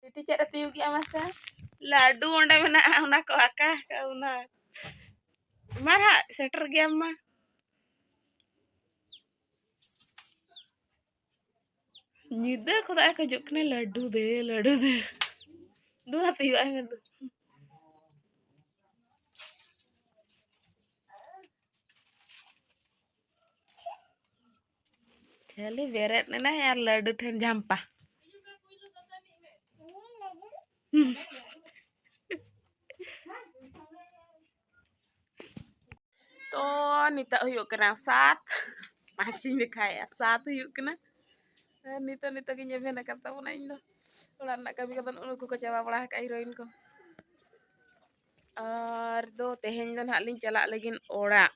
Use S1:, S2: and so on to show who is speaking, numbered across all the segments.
S1: ᱵᱤᱴᱤ ᱪᱮᱫ ᱮ ᱛᱤᱭᱩᱜᱮᱜᱼᱟ ᱢᱟᱥᱮ ᱞᱟᱹᱰᱩ ᱚᱸᱰᱮ ᱢᱮᱱᱟᱜᱼᱟ ᱚᱱᱟ ᱠᱚ ᱟᱠᱟ ᱚᱱᱟ ᱢᱟ ᱦᱟᱸᱜ ᱥᱮᱴᱮᱨ ᱜᱮᱭᱟᱢ ᱢᱟ ᱧᱤᱫᱟᱹ ᱠᱷᱚᱱᱟᱜ ᱮ ᱠᱷᱚᱡᱚᱜ ᱠᱟᱱᱟ ᱞᱟᱹᱰᱩ ᱫᱮ ᱞᱟᱹᱰᱩ ᱫᱮ ᱫᱩ ᱦᱟᱛ ᱦᱩᱭᱩᱜᱼᱟ ᱢᱮᱱ ᱫᱚ ᱠᱷᱟᱹᱞᱤ ᱵᱮᱨᱮᱫ ᱮᱱᱟᱭ ᱟᱨ ᱞᱟᱹᱰᱩ ᱴᱷᱮᱱ ᱡᱷᱟᱢᱯᱟ ᱛᱚ ᱱᱤᱛᱚᱜ ᱦᱩᱭᱩᱜ ᱠᱟᱱᱟ ᱥᱟᱛ ᱯᱟᱸᱪᱤᱧ ᱫᱮᱠᱷᱟᱭᱮᱜᱼᱟ ᱥᱟᱛ ᱦᱩᱭᱩᱜ ᱠᱟᱱᱟ ᱱᱤᱛᱚᱜ ᱱᱤᱛᱚᱜ ᱜᱤᱧ ᱮᱵᱷᱮᱱ ᱟᱠᱟᱫ ᱛᱟᱵᱚᱱᱟ ᱤᱧ ᱫᱚ ᱚᱲᱟᱜ ᱨᱮᱱᱟᱜ ᱠᱟᱹᱢᱤ ᱠᱚᱫᱚ ᱩᱱᱠᱩ ᱠᱚ ᱪᱟᱵᱟ ᱵᱟᱲᱟ ᱟᱠᱟᱫ ᱦᱤᱨᱳᱭᱤᱱ ᱠᱚ ᱟᱨ ᱫᱚ ᱛᱮᱦᱮᱧ ᱫᱚ ᱱᱟᱦᱟᱜ ᱞᱤᱧ ᱪᱟᱞᱟᱜ ᱞᱟᱹᱜᱤᱫ ᱚᱲᱟᱜ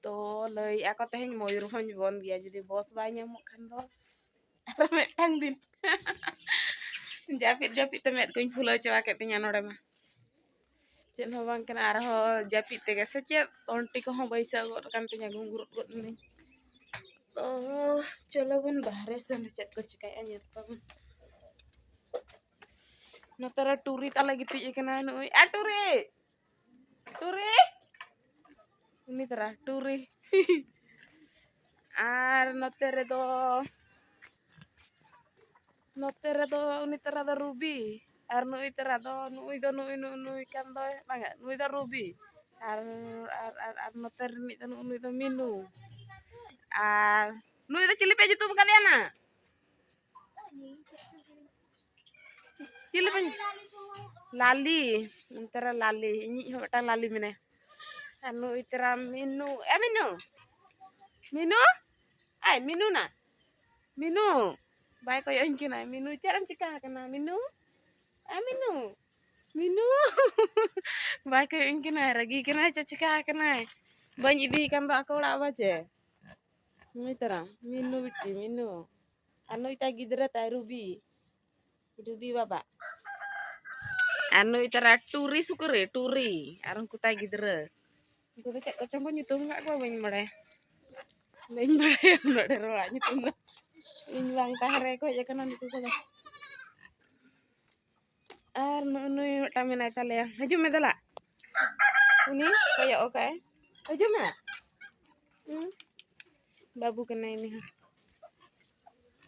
S1: ᱛᱚ ᱞᱟᱹᱭᱮᱫᱼᱟ ᱠᱚ ᱛᱮᱦᱮᱧ ᱢᱚᱭᱩᱨᱵᱷᱚᱸᱡᱽ ᱵᱚᱱᱫ ᱜᱮᱭᱟ ᱡᱩᱫᱤ ᱵᱚᱥ ᱵᱟᱭ ᱧᱟᱢᱚᱜ ᱠᱷᱟᱱ ᱫᱚ ᱟᱨ ᱢᱤᱫᱴᱟᱝ ᱫᱤᱱ ᱡᱟᱹᱯᱤᱫ ᱡᱟᱹᱯᱤᱫ ᱛᱮ ᱢᱮᱫ ᱠᱚᱧ ᱯᱷᱩᱞᱟᱹᱣ ᱪᱟᱵᱟ ᱠᱮᱫ ᱛᱤᱧᱟ ᱱᱚᱰᱮ ᱢᱟ ᱪᱮᱫ ᱦᱚᱸ ᱵᱟᱝ ᱠᱟᱱᱟ ᱟᱨᱦᱚᱸ ᱡᱟᱹᱯᱤᱫ ᱛᱮᱜᱮ ᱥᱮ ᱪᱮᱫ ᱚᱱᱴᱤ ᱠᱚᱦᱚᱸ ᱵᱟᱹᱭᱥᱟᱹᱣ ᱜᱚᱫ ᱠᱟᱱ ᱛᱤᱧᱟ ᱜᱩᱝᱜᱩᱨᱩᱫ ᱜᱚᱫ ᱱᱟᱹᱧ ᱛᱚ ᱪᱚᱞᱚ ᱵᱚᱱ ᱵᱟᱦᱨᱮ ᱥᱮᱱ ᱪᱮᱫ ᱠᱚ ᱪᱤᱠᱟᱹᱭᱮᱫᱼᱟ ᱧᱮᱞ ᱠᱚᱣᱟᱵᱚᱱ ᱱᱚᱛᱮ ᱨᱮ ᱴᱩᱨᱤ ᱛᱟᱞᱮ ᱜᱤᱛᱤᱡ ᱟᱠᱟᱱᱟ ᱱᱩᱭ ᱮ ᱴᱩᱨᱤ ᱴᱩᱨᱤ ᱩᱱᱤ ᱛᱟᱨᱟ ᱴᱩᱨᱤ ᱟᱨ ᱱᱚᱛᱮ ᱨᱮᱫᱚ ᱱᱚᱛᱮ ᱨᱮᱫᱚ ᱩᱱᱤ ᱛᱟᱨᱟ ᱫᱚ ᱨᱩᱵᱤ ᱟᱨ ᱱᱩᱭ ᱛᱟᱨᱟ ᱫᱚ ᱱᱩᱭ ᱫᱚ ᱱᱩᱭ ᱱᱩᱭ ᱱᱩᱭ ᱠᱟᱱ ᱫᱚᱭ ᱵᱟᱝᱟ ᱱᱩᱭ ᱫᱚ ᱨᱩᱵᱤ ᱟᱨ ᱟᱨ ᱟᱨ ᱟᱨ ᱱᱚᱛᱮ ᱨᱤᱱᱤᱡ ᱫᱚ ᱱᱩᱭ ᱫᱚ ᱢᱤᱱᱩ ᱟᱨ ᱱᱩᱭ ᱫᱚ ᱪᱤᱞᱤ ᱯᱮ ᱧᱩᱛᱩᱢ ᱠᱟᱫᱮᱭᱟ ᱱᱟ ᱪᱤᱞᱤ ᱵᱟᱹᱧ ᱞᱟᱞᱤ ᱚᱱᱛᱮᱨᱮ ᱞᱟᱞᱤ ᱤᱧᱤᱡ ᱦᱚᱸ ᱢᱤᱫᱴᱟᱝ ᱞᱟᱞᱤ ᱢᱮᱱᱟᱭ ᱟᱨ ᱱᱩᱭ ᱛᱮᱨᱟ ᱢᱤᱱᱩ ᱮ ᱢᱤᱱᱩ ᱢᱤᱱᱩ ᱟᱭ ᱢᱤᱱᱩ ᱱᱟ ᱢᱤᱱᱩ ᱵᱟᱭ ᱠᱚᱭᱚᱜ ᱟᱹᱧ ᱠᱟᱱᱟᱭ ᱢᱤᱱᱩ ᱪᱮᱫ ᱮᱢ ᱪᱤᱠᱟ ᱟᱠᱟᱱᱟ ᱢᱤᱱᱩ ᱮ ᱢᱤᱱᱩ ᱢᱤᱱᱩ ᱵᱟᱭ ᱠᱚᱭᱚᱜ ᱟᱹᱧ ᱠᱟᱱᱟᱭ ᱨᱟᱹᱜᱤ ᱠᱟᱱᱟᱭ ᱪᱮᱫ ᱪᱤᱠᱟ ᱟᱠᱟᱱᱟᱭ ᱵᱟᱹᱧ ᱤᱫᱤᱭᱮ ᱠᱟᱱ ᱫᱚ ᱟᱠᱚ ᱚᱲᱟᱜ ᱵᱟᱪᱮ ᱱᱩᱭ ᱛᱟᱨᱟ ᱢᱤᱱᱩ ᱵᱤᱴᱤ ᱢᱤᱱᱩ ᱟᱨ ᱱᱩᱭ ᱛᱟᱭ ᱜᱤᱫᱽᱨᱟᱹ ᱛᱟᱭ ᱨᱩᱵᱤ ᱨᱩᱵᱤ ᱵᱟᱵᱟ ᱟᱨ ᱱᱩᱭ ᱛᱟᱨᱟ ᱴᱩᱨᱤ ᱥᱩᱠᱨᱤ ᱴᱩᱨᱤ ᱟᱨ ᱩᱱᱠᱩ ᱛᱟᱭ ᱜᱤᱫᱽᱨᱟᱹ ᱩᱱᱠᱩ ᱫᱚ ᱪᱮᱫ ᱠᱚᱪᱚᱝ ᱠᱚ ᱧᱩᱛᱩᱢ ᱟᱠᱟᱫ ᱠᱚᱣᱟ ᱵᱟᱹᱧ ᱵᱟᱲᱟᱭᱟ ᱵᱟᱹᱧ ᱵᱟᱲᱟᱭᱟ ᱩᱱᱟᱹᱜ ᱰᱷᱮᱨ ᱦᱚᱲᱟᱜ ᱧᱩᱛᱩᱢ ᱫᱚ ᱤᱧ ᱵᱟᱝ ᱛᱟᱦᱮᱸ ᱨᱮ ᱠᱚ ᱦᱮᱡ ᱟᱠᱟᱱᱟ ᱱᱩᱠᱩ ᱠᱚᱫᱚ ᱟᱨ ᱱᱩᱭ ᱢᱤᱫᱴᱟᱝ ᱢᱮᱱᱟᱭ ᱛᱟᱞᱮᱭᱟ ᱦᱤᱡᱩᱜ ᱢᱮ ᱫᱮᱞᱟ ᱩᱱᱤ ᱠᱚᱭᱚᱜ ᱟᱠᱟᱭ ᱦᱤᱡᱩᱜ ᱢᱮ ᱵᱟᱹᱵᱩ ᱠᱟᱱᱟᱭ ᱩᱱᱤ ᱦᱚᱸ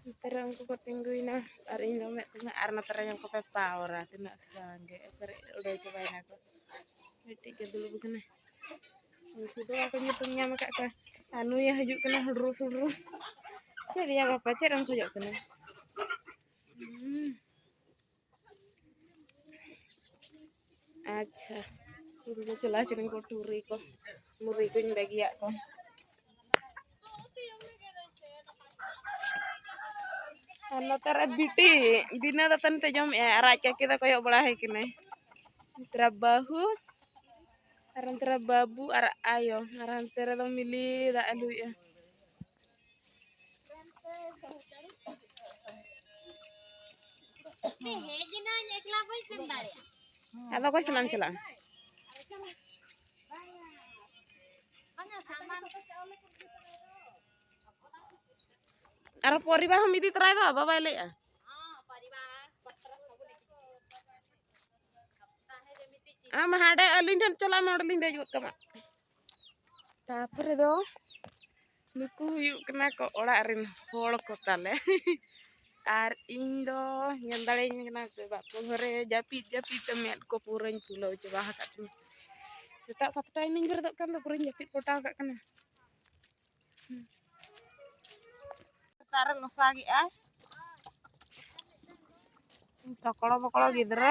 S1: ᱱᱚᱛᱮ ᱨᱮ ᱩᱱᱠᱩ ᱠᱚ ᱛᱤᱸᱜᱩᱭᱮᱱᱟ ᱟᱨ ᱤᱧ ᱫᱚ ᱢᱮᱫ ᱛᱤᱧᱟ ᱟᱨ ᱱᱚᱛᱮ ᱨᱮ ᱧᱮᱞ ᱠᱚᱯᱮ ᱯᱟᱣᱨᱟ ᱛᱤᱱᱟᱹᱜ ᱥᱟᱸᱜᱮ ᱮᱠᱵᱟᱨᱮ ᱩᱰᱟᱹᱣ ᱪᱟᱵᱟᱭᱮᱱᱟ ᱠᱚ ᱢᱤᱫᱴᱤᱡ ᱜᱮ ᱫᱩᱲᱩᱵ ᱟᱠᱟᱱᱟᱭ ᱩᱱᱠᱩ ᱫᱚ ᱵᱟᱠᱚ ᱧᱩᱛᱩᱢ ᱧᱟᱢ ᱟᱠᱟᱫ ᱠᱚᱣᱟ ᱟᱨ ᱱᱩᱭᱮ ᱦᱤᱡᱩᱜ ᱠᱟᱱᱟ ᱦᱩᱰᱨᱩ ᱥᱩᱰᱨᱩ ᱪᱮᱫ ᱭᱟ ᱵᱟᱯᱟ ᱪᱮᱫ ᱮᱢ ᱠᱷᱚᱡᱚᱜ ᱠᱟᱱᱟ ᱟᱪᱪᱷᱟ ᱤᱧ ᱫᱚ ᱪᱟᱞᱟᱣ ᱠᱟᱹᱱᱟᱹᱧ ᱠᱚ ᱴᱩᱨᱤ ᱠᱚ ᱢᱩᱨᱤ ᱠᱚᱧ ᱵᱟᱹᱜᱤᱭᱟᱜ ᱠᱚ ᱟᱨ ᱱᱚᱛᱮ ᱨᱮ ᱵᱤᱴᱤ ᱵᱤᱱᱟᱹ ᱫᱟᱛᱟᱱ ᱛᱮ ᱡᱚᱢᱮᱜᱼᱟᱭ ᱟᱨ ᱟᱡ ᱠᱟᱹᱠᱤ ᱫᱚ ᱠᱚᱭᱚᱜ ᱵᱟᱲᱟ ᱦᱮᱡ ᱠᱟᱱᱟᱭ ᱱᱚᱛᱮ ᱨᱮ ᱵᱟᱹᱦᱩ ᱟᱨ ᱱᱚᱛᱮ ᱨᱮ ᱵᱟᱹᱵᱩ ᱟᱨ ᱟᱭᱳ ᱟᱨ ᱦᱟᱱᱛᱮ ᱨᱮᱫᱚ ᱢᱤᱞᱤ ᱫᱟᱜ ᱮ ᱞᱩᱭᱮᱜᱼᱟ ᱟᱫᱚ ᱚᱠᱚᱭ ᱥᱟᱞᱟᱜ ᱮᱢ ᱪᱟᱞᱟᱜᱼᱟ ᱟᱨ ᱯᱚᱨᱤᱵᱟ ᱦᱚᱸᱢ ᱤᱫᱤ ᱛᱚᱨᱟᱭ ᱫᱚ ᱵᱟᱵᱟᱭ ᱞᱟᱹᱭᱮᱜᱼᱟ ᱟᱢ ᱦᱟᱸᱰᱮ ᱟᱹᱞᱤᱧ ᱴᱷᱮᱱ ᱪᱟᱞᱟᱜ ᱢᱮ ᱚᱸᱰᱮᱞᱤᱧ ᱫᱮᱡ ᱜᱚᱫ ᱠᱟᱢᱟ ᱛᱟᱯᱚᱨᱮ ᱫᱚ ᱱᱩᱠᱩ ᱦᱩᱭᱩᱜ ᱠᱟᱱᱟ ᱠᱚ ᱚᱲᱟᱜ ᱨᱮᱱ ᱦᱚᱲ ᱠᱚ ᱛᱟᱞᱮ ᱟᱨ ᱤᱧ ᱫᱚ ᱧᱮᱞ ᱫᱟᱲᱮᱭᱟᱹᱧ ᱠᱟᱱᱟ ᱥᱮ ᱵᱟᱠᱚ ᱜᱷᱚᱨᱮ ᱡᱟᱹᱯᱤᱫ ᱡᱟᱹᱯᱤᱫ ᱛᱮ ᱢᱮᱫ ᱠᱚ ᱯᱩᱨᱟᱹᱧ ᱯᱷᱩᱞᱟᱹᱣ ᱪᱟᱵᱟ ᱟᱠᱟᱫ ᱛᱤᱧᱟ ᱥᱮᱛᱟᱜ ᱥᱟᱛᱴᱟ ᱤᱧ ᱵᱮᱨᱮᱫᱚᱜ ᱠᱟᱱ ᱫᱚ ᱯᱩᱨᱟᱹᱧ ᱡᱟᱹᱯᱤᱫ ᱯᱚᱴᱟᱣ ᱠᱟᱜ ᱠᱟᱱᱟ ᱥᱮᱛᱟᱜ ᱨᱮ ᱞᱚᱥᱟ ᱜᱮᱜᱼᱟ ᱛᱚᱠᱲᱚ ᱵᱚᱠᱲᱚ ᱜᱤᱫᱽᱨᱟᱹ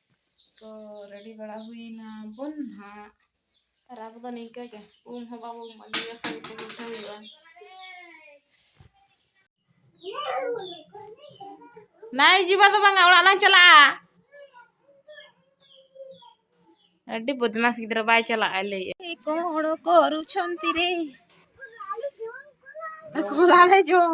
S1: ᱛᱚ ᱨᱮᱰᱤ ᱵᱟᱲᱟ ᱦᱩᱭᱱᱟ ᱵᱚᱱ ᱱᱟᱦᱟᱜ ᱟᱨ ᱟᱵᱚ ᱫᱚ ᱱᱤᱝᱠᱟᱹ ᱜᱮ ᱩᱢ ᱦᱚᱸ ᱵᱟᱵᱚ ᱩᱢ ᱟᱹᱜᱩᱭᱟ ᱥᱟᱹᱨᱤ ᱛᱮ ᱩᱞᱴᱟᱹ ᱦᱩᱭᱩᱜᱼᱟ ᱱᱟᱭ ᱡᱤᱵᱟ ᱫᱚ ᱵᱟᱝᱟ ᱚᱲᱟᱜ ᱞᱟᱝ ᱪᱟᱞᱟᱜᱼᱟ ᱟᱹᱰᱤ ᱵᱚᱫᱢᱟᱥ ᱜᱤᱫᱽᱨᱟᱹ ᱵᱟᱭ ᱪᱟᱞᱟᱜᱼᱟ ᱞᱟᱹᱭᱮᱫ ᱠᱚ ᱦᱚᱲ ᱠᱚ ᱨᱩᱪᱷᱚᱱᱛᱤ ᱨᱮ ᱠᱚᱞᱟᱞᱮ ᱡᱚᱢ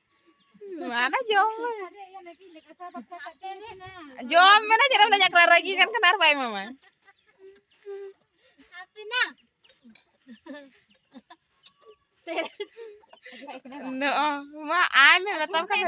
S1: ᱢᱟᱱᱮ ᱡᱚᱢ ᱡᱚᱢ ᱢᱮᱱᱟ ᱡᱮᱨᱮᱢ ᱞᱮ ᱡᱟᱠᱨᱟ ᱨᱟᱹᱜᱤ ᱠᱟᱱ ᱠᱟᱱᱟ ᱟᱨ ᱵᱟᱭ ᱢᱟᱢᱟ ᱱᱚᱜᱼᱚ ᱢᱟ ᱟᱭ ᱢᱮ ᱢᱮᱛᱟᱢ ᱠᱟᱱᱟ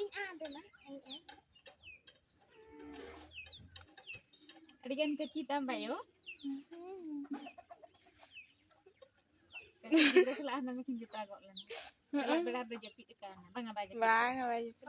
S1: ᱤᱧ ᱟᱸ ᱫᱮᱱᱟ ᱤᱧ ᱟᱸ ᱟᱹᱰᱤ ᱜᱟᱱ ᱠᱟᱹᱪᱤ ᱛᱟᱢ ᱵᱟᱭᱳ ᱜᱤᱫᱽᱨᱟᱹ ᱥᱟᱞᱟᱜ ᱦᱟᱱᱟ ᱢᱤᱫᱴᱤᱱ ᱡᱚᱴᱟᱣ ᱜᱚᱫ ᱞᱮᱱᱟ ᱥᱟᱞᱟᱜ ᱵᱮᱲᱟ ᱫᱚ ᱡᱟᱹᱯᱤᱫ ᱟᱠᱟᱱᱟ ᱵᱟᱝᱟ ᱵᱟᱭ ᱡᱟᱹᱯᱤᱫ ᱵᱟᱝᱟ ᱵᱟᱭ ᱡᱟᱹᱯᱤᱫ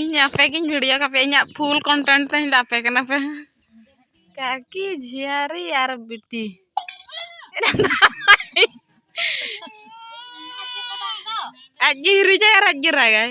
S1: ᱤᱧ ᱟᱯᱮ ᱜᱤᱧ ᱵᱷᱤᱰᱤᱭᱳ ᱠᱟᱯᱮ ᱤᱧᱟᱹᱜ ᱯᱷᱩᱞ ᱠᱚᱱᱴᱮᱱᱴ ᱛᱮᱧ ᱞᱟᱯᱮ ᱠᱟᱱᱟ ᱯᱮ ᱠᱟᱠᱤ ᱡᱷᱤᱭᱟᱨᱤ ᱟᱨ ᱵᱤᱴᱤ ᱟᱡ ᱜᱮ ᱦᱤᱨᱤᱡᱟᱭ ᱟᱨ ᱟᱡ ᱜᱮ ᱨᱟᱜᱟᱭ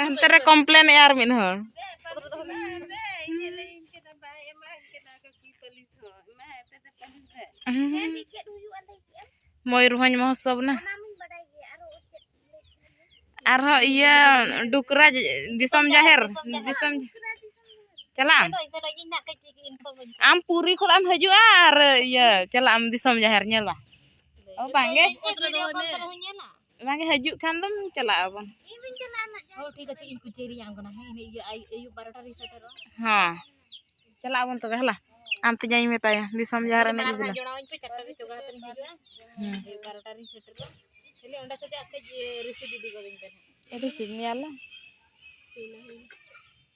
S1: ᱦᱟᱱᱛᱮ ᱨᱮ ᱠᱚᱢᱯᱞᱮᱱ ᱮ ᱟᱨ ᱢᱤᱫ ᱦᱚᱲ ᱢᱚᱭᱩᱨᱵᱷᱚᱸᱡᱽ ᱢᱚᱦᱳᱛᱥᱚᱵ ᱱᱟ ᱟᱨᱦᱚᱸ ᱤᱭᱟᱹ ᱰᱩᱠᱨᱟ ᱫᱤᱥᱚᱢ ᱡᱟᱦᱮᱨ ᱫᱤᱥᱚᱢ ᱪᱟᱞᱟᱜ ᱟᱢ ᱯᱩᱨᱤ ᱠᱷᱚᱱ ᱮᱢ ᱦᱤᱡᱩᱜᱼᱟ ᱟᱨ ᱤᱭᱟᱹ ᱪᱟᱞᱟᱜ ᱟᱢ ᱫᱤᱥᱚᱢ ᱡᱟᱦᱮᱨ ᱧᱮᱞᱟ ᱵᱟᱝᱜᱮ ᱚᱱᱟᱜᱮ ᱦᱤᱡᱩᱜ ᱠᱷᱟᱱ ᱫᱚᱢ ᱪᱟᱞᱟᱜ ᱟᱵᱚᱱ
S2: ᱦᱮᱸ
S1: ᱪᱟᱞᱟᱜ ᱟᱵᱚᱱ ᱛᱚᱵᱮ ᱦᱮᱞᱟ ᱟᱢ ᱛᱮ ᱡᱟᱧ ᱢᱮᱛᱟᱭᱟ ᱫᱤᱥᱚᱢ ᱡᱟᱦᱟᱸ ᱨᱮ ᱮᱱᱮᱡ ᱵᱤᱞᱟ
S2: ᱨᱤᱥᱤᱵᱷ ᱢᱮᱭᱟᱞᱮ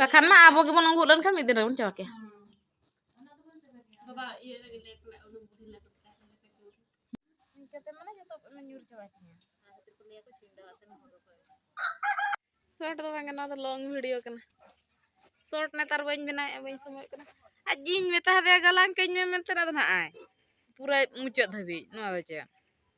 S1: ᱵᱟᱠᱷᱟᱱ ᱢᱟ ᱟᱵᱚ ᱜᱮᱵᱚᱱ ᱩᱸᱜᱩᱜ ᱞᱮᱱᱠᱷᱟᱱ ᱢᱤᱫ ᱫᱤᱱ ᱨᱮᱵᱚᱱ ᱪᱟᱵᱟ ᱠᱮᱭᱟ ᱥᱚᱨᱴ ᱫᱚ ᱵᱟᱝ ᱱᱚᱣᱟ ᱫᱚ ᱞᱚᱝ ᱵᱷᱤᱰᱤᱭᱳ ᱠᱟᱱᱟ ᱥᱚᱨᱴ ᱱᱮᱛᱟᱨ ᱵᱟᱹᱧ ᱵᱮᱱᱟᱣᱮᱫᱼᱟ ᱵᱟᱹᱧ ᱥᱚᱢᱚᱭ ᱠᱟᱱᱟ ᱟᱡ ᱤᱧ ᱢᱮᱛᱟ ᱫᱮᱭᱟ ᱜᱟᱞᱟᱝ ᱠᱟᱹᱧ ᱢᱮ ᱢᱮᱱᱛᱮ ᱟᱫᱚ ᱱᱟᱜ ᱟᱭ ᱯᱩᱨᱟᱹ ᱢᱩᱪᱟᱹᱫ ᱫᱷᱟᱹᱵᱤᱡ ᱱᱚᱣᱟ ᱫᱚ ᱪᱮᱫ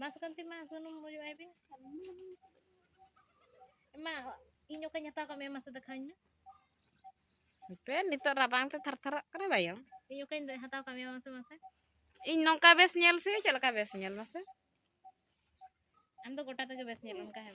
S2: ᱵᱟᱥᱠᱚᱱᱛᱤ ᱢᱟ ᱥᱩᱱᱩᱢ ᱚᱡᱚᱜ ᱟᱭ ᱵᱤᱱ ᱮᱢᱟ ᱤᱧ ᱚᱠᱟᱧ ᱦᱟᱛᱟᱣ ᱠᱟᱜ ᱢᱮᱭᱟ ᱢᱟᱥᱮ ᱫᱮᱠᱷᱟᱣᱟᱹᱧ
S1: ᱢᱮ ᱦᱟᱯᱮ ᱱᱤᱛᱚᱜ ᱨᱟᱵᱟᱝ ᱛᱮ ᱛᱷᱟᱨ ᱛᱷᱟᱨᱟᱜ ᱠᱟᱱᱟ ᱵᱟᱭᱟ ᱤᱧ ᱚᱠᱟᱧ ᱦᱟᱛᱟᱣ
S2: ᱠᱟᱜ ᱢᱮᱭᱟ ᱢᱟᱥᱮ ᱢᱟᱥᱮ ᱤᱧ
S1: ᱱᱚᱝᱠᱟ ᱵᱮᱥ ᱧᱮᱞ ᱥᱮ ᱪᱮᱫ ᱞᱮᱠᱟ ᱵᱮᱥ ᱧᱮᱞ ᱢᱟᱥᱮ
S2: ᱟᱢ ᱫᱚ ᱜᱚᱴᱟ ᱛᱮᱜᱮ ᱵᱮᱥ ᱧᱮᱞ ᱚᱱᱠᱟ ᱦᱮᱸ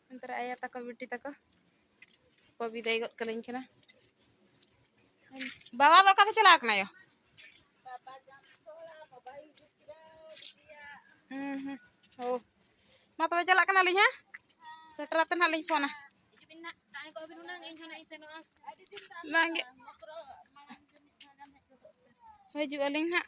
S1: ᱚᱱᱛᱮ ᱨᱮ ᱟᱭᱳ ᱛᱟᱠᱚ ᱵᱤᱴᱤ ᱛᱟᱠᱚ ᱠᱚ ᱵᱤᱫᱟᱹᱭ ᱜᱚᱫ ᱠᱟᱹᱞᱤᱧ ᱠᱟᱱᱟ ᱵᱟᱵᱟ ᱫᱚ ᱚᱠᱟ ᱫᱚ ᱪᱟᱞᱟᱣ ᱠᱟᱱᱟ ᱭᱳ ᱦᱩᱸ ᱦᱩᱸ ᱳ ᱢᱟ ᱛᱚᱵᱮ ᱪᱟᱞᱟᱜ ᱠᱟᱱᱟᱞᱤᱧ ᱦᱮᱸ ᱥᱮᱴᱮᱨ ᱟᱛᱮ ᱱᱟᱜ ᱞᱤᱧ ᱯᱷᱳᱱᱟ
S2: ᱵᱟᱝᱜᱮ
S1: ᱦᱤᱡᱩᱜ ᱟᱹᱞᱤᱧ ᱦᱟᱸᱜ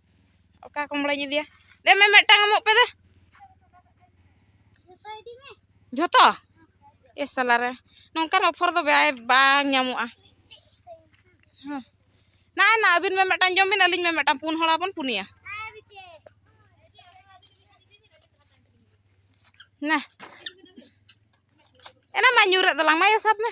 S1: ᱚᱠᱟ ᱠᱚᱢᱲᱟᱧ ᱤᱫᱤᱭᱟ ᱫᱮ ᱢᱮ ᱢᱤᱫᱴᱟᱝ ᱮᱢᱚᱜ ᱯᱮ ᱫᱮ ᱡᱷᱚᱛᱚ ᱮ ᱥᱟᱞᱟ ᱨᱮ ᱱᱚᱝᱠᱟᱱ ᱚᱯᱷᱚᱨ ᱫᱚ ᱵᱟᱭ ᱵᱟᱝ ᱧᱟᱢᱚᱜᱼᱟ ᱦᱮᱸ ᱱᱟ ᱱᱟ ᱟᱹᱵᱤᱱ ᱢᱮ ᱢᱤᱫᱴᱟᱝ ᱡᱚᱢ ᱵᱤᱱ ᱟᱹᱞᱤᱧ ᱢᱮ ᱢᱤᱫᱴᱟᱝ ᱯᱩᱱ ᱦᱚᱲ ᱟᱵᱚᱱ ᱯᱩᱱᱭᱟ ᱱᱟ ᱮᱱᱟ ᱢᱟ ᱧᱩᱨᱮᱫ ᱫᱚᱞᱟᱝ ᱢᱟ ᱥᱟᱵ ᱢᱮ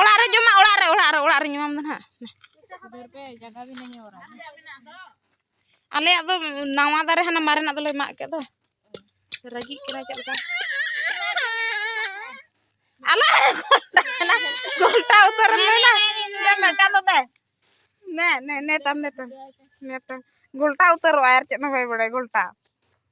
S1: ᱚᱲᱟᱜ ᱨᱮ ᱡᱚᱢᱟ ᱚᱲᱟᱜ ᱨᱮ ᱚᱲᱟᱜ ᱨᱮ ᱚᱲᱟᱜ ᱨᱮ ᱧᱟᱢᱟᱢ ᱫᱚ ᱦᱟᱸᱜ ᱟᱞᱮᱭᱟᱜ ᱫᱚ ᱱᱟᱣᱟ ᱫᱟᱨᱮ ᱦᱟᱱᱟ ᱢᱟᱨᱮᱱᱟᱜ ᱫᱚᱞᱮ ᱢᱟᱜ ᱠᱮᱫ ᱫᱚ ᱨᱟᱹᱜᱤᱜ ᱠᱟᱱᱟ ᱪᱮᱫ ᱞᱮᱠᱟ ᱟᱞᱮ ᱜᱷᱚᱞᱴᱟ ᱩᱛᱟᱹᱨ ᱞᱮᱱᱟ ᱢᱮᱴᱟ ᱫᱚ ᱫᱮ ᱱᱮ ᱱᱮ ᱱᱮᱛᱟᱢ ᱱᱮᱛᱟᱢ ᱱᱮᱛᱟᱢ ᱜᱷᱚᱞᱴᱟ ᱩᱛᱟᱹᱨᱚᱜᱼᱟ ᱟᱨ ᱪᱮᱫ ᱦᱚᱸ ᱵᱟᱭ ᱵᱟᱲᱟᱭ ᱜᱷᱚᱞᱴᱟ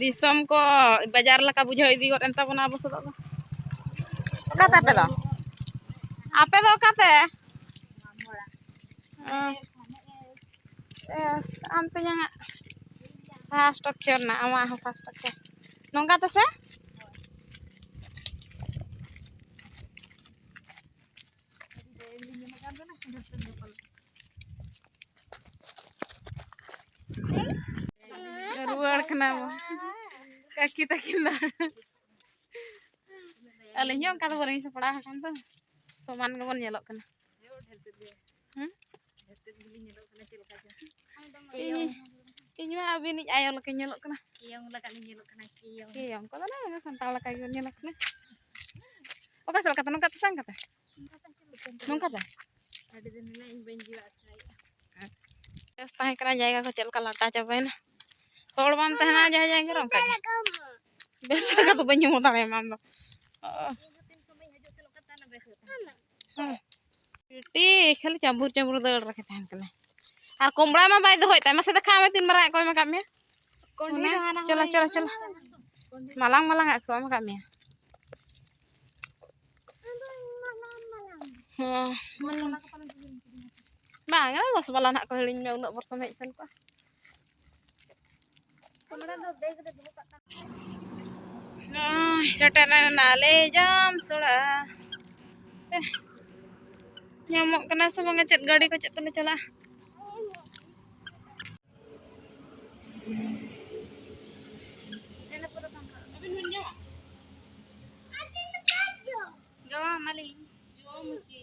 S1: ᱫᱤᱥᱚᱢ ᱠᱚ ᱵᱟᱡᱟᱨ ᱞᱮᱠᱟ ᱵᱩᱡᱷᱟᱹᱣ ᱤᱫᱤ ᱜᱚᱫ ᱮᱱ ᱛᱟᱵᱚᱱᱟ ᱟᱵᱚ ᱥᱮᱫ ᱫᱚ ᱚᱠᱟᱛᱮ ᱟᱯᱮ ᱫᱚ ᱟᱯᱮ ᱫᱚ ᱚᱠᱟᱛᱮ ᱟᱢ ᱛᱮᱧᱟᱝ ᱯᱷᱟᱥᱴ ᱚᱠᱷᱚᱨ ᱱᱟ ᱟᱢᱟᱜ ᱦᱚᱸ ᱯᱷᱟᱥᱴ ᱚᱠᱷᱚᱨ ᱱᱚᱝᱠᱟ ᱛᱮᱥᱮ ᱨᱩᱣᱟᱹᱲ ᱠᱟᱱᱟ ᱵᱚ ᱠᱟᱹᱠᱤ ᱛᱟᱹᱠᱤᱱ ᱫᱚ ᱟᱹᱞᱤᱧ ᱦᱚᱸ ᱚᱱᱠᱟ ᱫᱚ ᱵᱟᱹᱞᱤᱧ ᱥᱟᱯᱲᱟᱣ ᱟᱠᱟᱱ ᱫᱚ ᱥᱚᱢᱟᱱ ᱜᱮᱵᱚᱱ ᱧᱮᱞᱚᱜ ᱠᱟᱱᱟ ᱤᱧ ᱢᱟ ᱟᱹᱵᱤᱱᱤᱡ ᱟᱭᱳ ᱞᱮᱠᱟᱧ ᱧᱮᱞᱚᱜ ᱠᱟᱱᱟ ᱠᱤᱭᱚᱝ ᱞᱮᱠᱟᱞᱤᱧ
S2: ᱧᱮᱞᱚᱜ ᱠᱟᱱᱟ ᱠᱤᱭᱚᱝ ᱠᱤᱭᱚᱝ ᱠᱚᱫᱚ ᱱᱟᱝ
S1: ᱥᱟᱱᱛᱟᱲ ᱞᱮᱠᱟ ᱜᱮᱵᱚᱱ ᱧᱮᱞᱚᱜ ᱠᱟᱱᱟ ᱚᱠᱟ ᱥᱮᱫ ᱞᱮᱠᱟᱛᱮ ᱱᱚᱝᱠᱟ ᱛᱮ ᱥᱟᱝ ᱠᱟᱛᱮ ᱱᱚᱝᱠᱟ ᱛᱮ ᱟᱹᱰᱤ ᱫᱤᱱ ᱦᱤᱞᱳᱜ
S2: ᱤᱧ ᱵᱟᱹᱧ ᱡᱤᱣᱟᱜ
S1: ᱥᱟᱭᱟ ᱵᱮᱥ ᱛᱟᱦᱮᱸ ᱠᱟᱱᱟ ᱡᱟᱭᱜᱟ ᱠᱚ ᱪᱮᱫ ᱞᱮᱠᱟ ᱞᱟᱴᱟ ᱪᱟᱵᱟᱭᱮᱱᱟ ᱦᱚᱲ ᱵᱟᱢ ᱛᱟᱦᱮᱱᱟ ᱡᱟᱦᱟᱸ ᱡᱟᱭᱜᱟ ᱨᱮ ᱚᱱᱠᱟ ᱵᱮᱥ ᱞᱮᱠᱟ ᱫᱚ ᱵᱟᱹᱧ ᱩᱢᱩ ᱫᱟᱲᱮᱭᱟᱢᱟ ᱟᱢ ᱫᱚ
S2: ᱵᱤᱴᱤ
S1: ᱠᱷᱟᱹᱞᱤ ᱪᱟᱹᱢᱵᱩᱨ ᱪᱟᱹᱢᱵᱩᱨ ᱫᱟᱹᱲ ᱨᱮᱜᱮ ᱛᱟᱦᱮᱱ ᱠᱟᱱᱟ ᱟᱨ ᱠᱚᱢᱲᱟ ᱢᱟ ᱵᱟᱭ ᱫᱚᱦᱚᱭ ᱛᱟᱭ ᱢᱟᱥᱮ ᱫᱮᱠᱷᱟᱣ ᱢᱮ ᱛᱤᱱ ᱢᱟᱨᱟᱝ ᱟᱜ ᱠᱚ ᱮᱢ ᱟᱠᱟᱫ ᱢᱮᱭᱟ ᱪᱚᱞᱚ ᱪᱚᱞᱚ ᱪᱚᱞᱚ ᱢᱟᱞᱟᱝ ᱢᱟᱞᱟᱝ ᱟᱜ ᱠᱚ ᱮᱢ ᱟᱠᱟᱫ ᱢᱮᱭᱟ ᱦᱮᱸ ᱵᱟᱝ ᱵᱚᱥ ᱵᱟᱞᱟ ᱱᱟᱜ ᱠᱚ ᱦᱤᱲᱤᱧ ᱢᱮ ᱩᱱᱟᱹᱜ ᱵᱚᱨᱥᱚᱢ ᱦᱮᱡ ᱥᱮᱱ ᱠᱚᱜᱼᱟ ᱥᱮᱴᱮᱨ ᱮᱱᱟᱞᱮ ᱡᱟᱢ ᱥᱚᱲᱟ ᱧᱟᱢᱚᱜ ᱠᱟᱱᱟ ᱥᱮ ᱵᱟᱝᱟ ᱪᱮᱫ ᱜᱟᱹᱰᱤ ᱠᱚ ᱪᱮᱫ ᱛᱮᱞᱮ ᱪᱟᱞᱟᱜᱼᱟ Yo, Mali.
S2: Yo, Mali.